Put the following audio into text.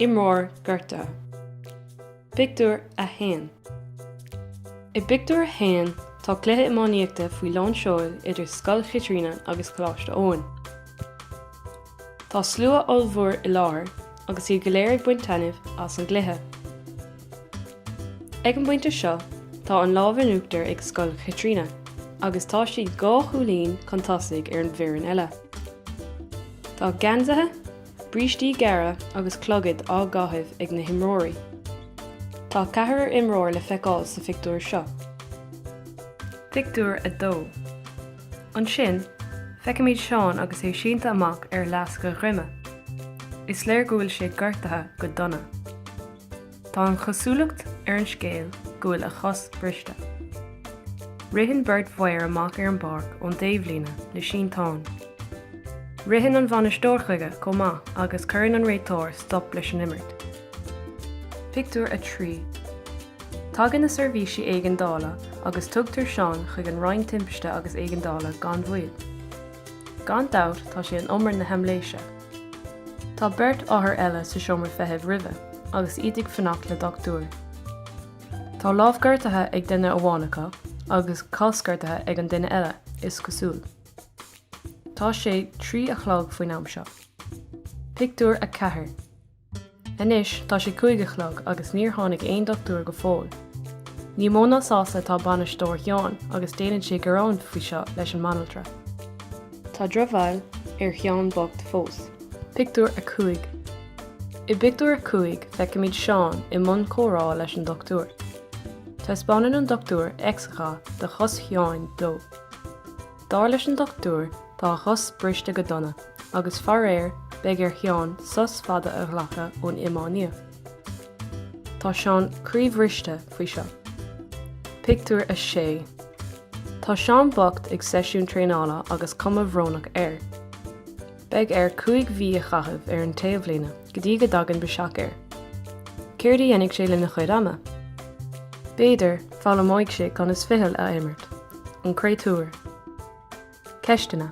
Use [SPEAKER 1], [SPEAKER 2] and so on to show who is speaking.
[SPEAKER 1] Imreoir gortaithe. Pictiúr 1 I bpictiúr a haon, tá cluiche iománaíochta faoi lán seoil idir Scoil Chaitríona agus Coláiste Eoin. Tá slua ollmhór i láthair agus iad go léir ag baint taitnimh as an gcluiche. Ag an bpointe seo tá an lámh in uachtar ag Scoil Chaitríona agus tá siad dhá chúilín chun tosaigh ar an bhfoireann eile. Tá geansaithe, brístí gearra agus clogaid á gcaitheamh ag na himreoirí. Tá ceathrar imreoir le feiceáil sa phictiúr seo. Pictiúr 2. Ansin, feicimid Seán agus é sínte amach ar fhleasc a dhroma. Is léir go bhfuil sé gortaithe go dona. Tá an chosúlacht ar an scéal go bhfuil a chos briste. Ritheann beirt fhear amach ar an bpáirc ón taobhlíne le sínteán. Ritheann an bhainisteoir chuige chomh maith agus cuireann an réiteoir stop leis an imirt. Pictiúr 3 Tagann na seirbhísí éigeandála agus tugtar Seán chuig an Roinn Timpiste agus Éigeandála gan mhoill. Gan dabht tá sé in umar na haimléise. Tá beirt othar eile sa seomra feithimh roimhe agus iad ag fanacht le dochtúir. Tá lámh gortaithe ag duine amháin acu agus cos gortaithe ag an duine eile, is cosúil. Tá sé trí a chlog faoin am seo. Pictiúr 4 Anois tá sé cúig a chlog agus níor tháinig aon dochtúir go fóill. Ní mó ná sásta atá bainisteoir Sheáin agus déanann sé gearán faoi seo leis an mbanaltra. Tá drochbhail ar Sheán bocht fós. Pictiúr 5 I bpictiúr a cúig feicimid Seán i mbun comhrá leis an dochtúir. Taispeánann an dochtúir x-gha de chos Sheáin dó. Dar leis an dochtúir, tá a chos briste go dona, agus faraor, beidh ar Sheán sos fada a ghlacadh ón iománaíocht. Tá Seán croíbhriste faoi seo. Pictiúr 6 Tá Seán bocht ag seisiún traenála agus cuma bhrónach air. Beidh air 5 mhí a chaitheamh ar an taobhlíne go dtí go dtagann biseach air. Céard a dhéanfaidh sé lena chuid ama? B'fhéidir, foghlaimeoidh sé conas ficheall a imirt. An créatúr. Ceisteanna.